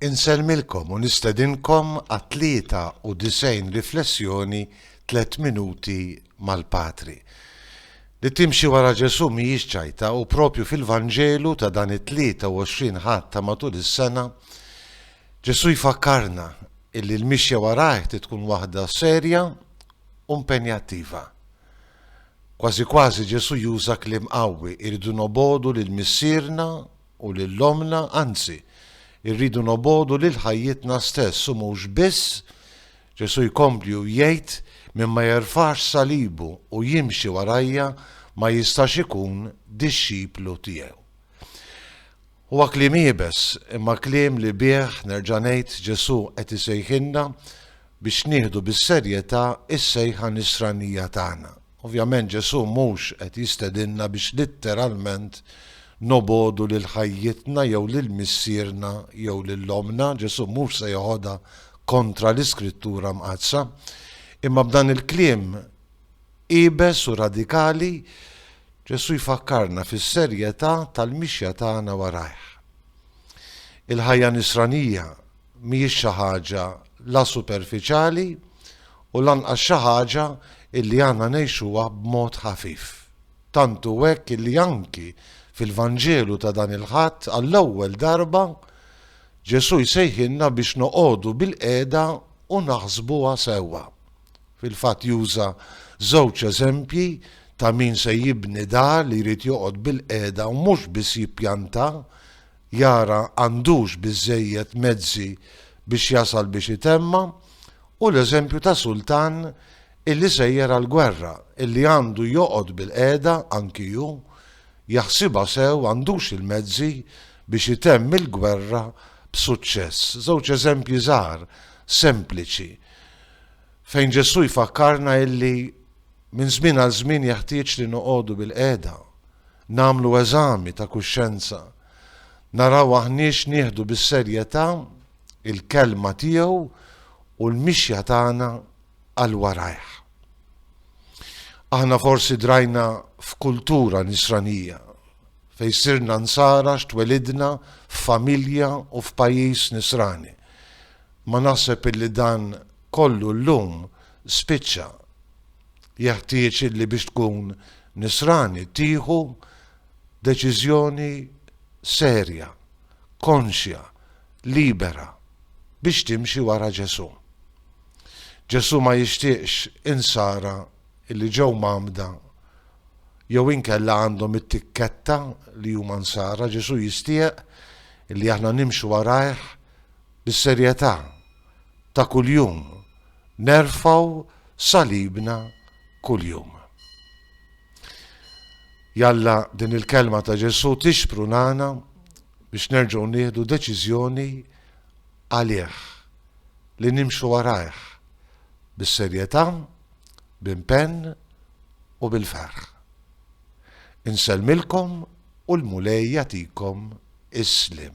Insellmilkom u nistedinkom għat-93 riflessjoni Tliet Minuti mal-Patri. Li timxi wara Ġesù mhijiex ċajta u proprju fil-Vanġelu ta' dan it-23 Ħadd ta' matul is-sena, Ġesù jfakkarna illi l-mixja warajh trid tkun waħda serja u mpenjattiva. Kważi kważi Ġesù juża kliem qawwi, irridu nobogħdu lil Missierna u lil ommna, anzi, irridu nobogħdu lil ħajjitna stess u mhux biss, Ġesù jkompli u jgħid, min ma jerfax salibu u jimxi warajja ma jistax ikun dixxiplu tiegħi. Huwa kliem iebes, imma kliem li bih, nerġa' ngħid, Ġesù qed isejħilna biex nieħdu bis-serjetà s-sejħa nisranija tagħna. Ovvjament Ġesù mhux qed jistedinna biex litteralment nobogħdu lil ħajjitna jew lil missierna jew lil ommna, Ġesù mhux se jeħodha kontra l-Iskrittura Mqaddsa. Imma b'dan il-kliem iebes u radikali, Ġesù jfakkarna fis-serjetà tal-mixja tagħna warajh. Il-ħajja Nisranija mhijiex xi ħaġa la superfiċjali u lanqas xi ħaġa illi aħna ngħixuha b'mod ħafif. Tant hu hekk illi anki fil-Vanġelu ta' dan il-Ħadd għall-ewwel darba Ġesù jsejħilna biex noqogħdu bilqiegħda u naħsbuha sewwa. Fil-fatt juża żewġ eżempji ta' min se jibni dar li jrid joqgħod bilqiegħda u mhux biss jippjanta jara għandux biżżejjed mezzi biex jasal biex itemma, u l-eżempju ta' sultan illi sejjer għall-gwerra, illi għandu joqgħod bil-qiegħda anki hu, jaħsibha sew għandux il-mezzi biex itemm il-gwerra b'suċċess. Żewġ eżempji żgħar, sempliċi, fejn Ġesù jfakkarna illi minn żmien għal żmien jeħtieġ li noqogħdu bil-qiegħda. nagħmlu eżami ta' kuxjenza, naraw aħniex nieħdu bis-serjetà l-kelma tiegħu u l-mixja tagħna għal warajh. Aħna forsi drajna f'kultura nisranija fejn sirna nsara x'twelidna f'familja u f'pajjiż nisrani. Ma naħseb illi dan kollu llum spiċċa Jeħtieġ illi biex tkun Nisrani tieħu deċiżjoni serja, konxja, libera biex timxi wara Ġesù. Ġesù ma jixtieqx Insara illi ġew mgħammda jew inkella għandhom it-tikketta li huma Nsara, Ġesù jistieq illi aħna nimxu warajh bis-serjetà ta' kuljum nerfgħu salibna kuljum. Jalla din il-kelma ta' Ġesù tixprunana biex nerġgħu nieħdu deċiżjoni għalih, li nimxu warajh bis-serjetà, b'impenn u bil-ferħ. Insellmilkom u l-Mulej jagħtikom is-sliem.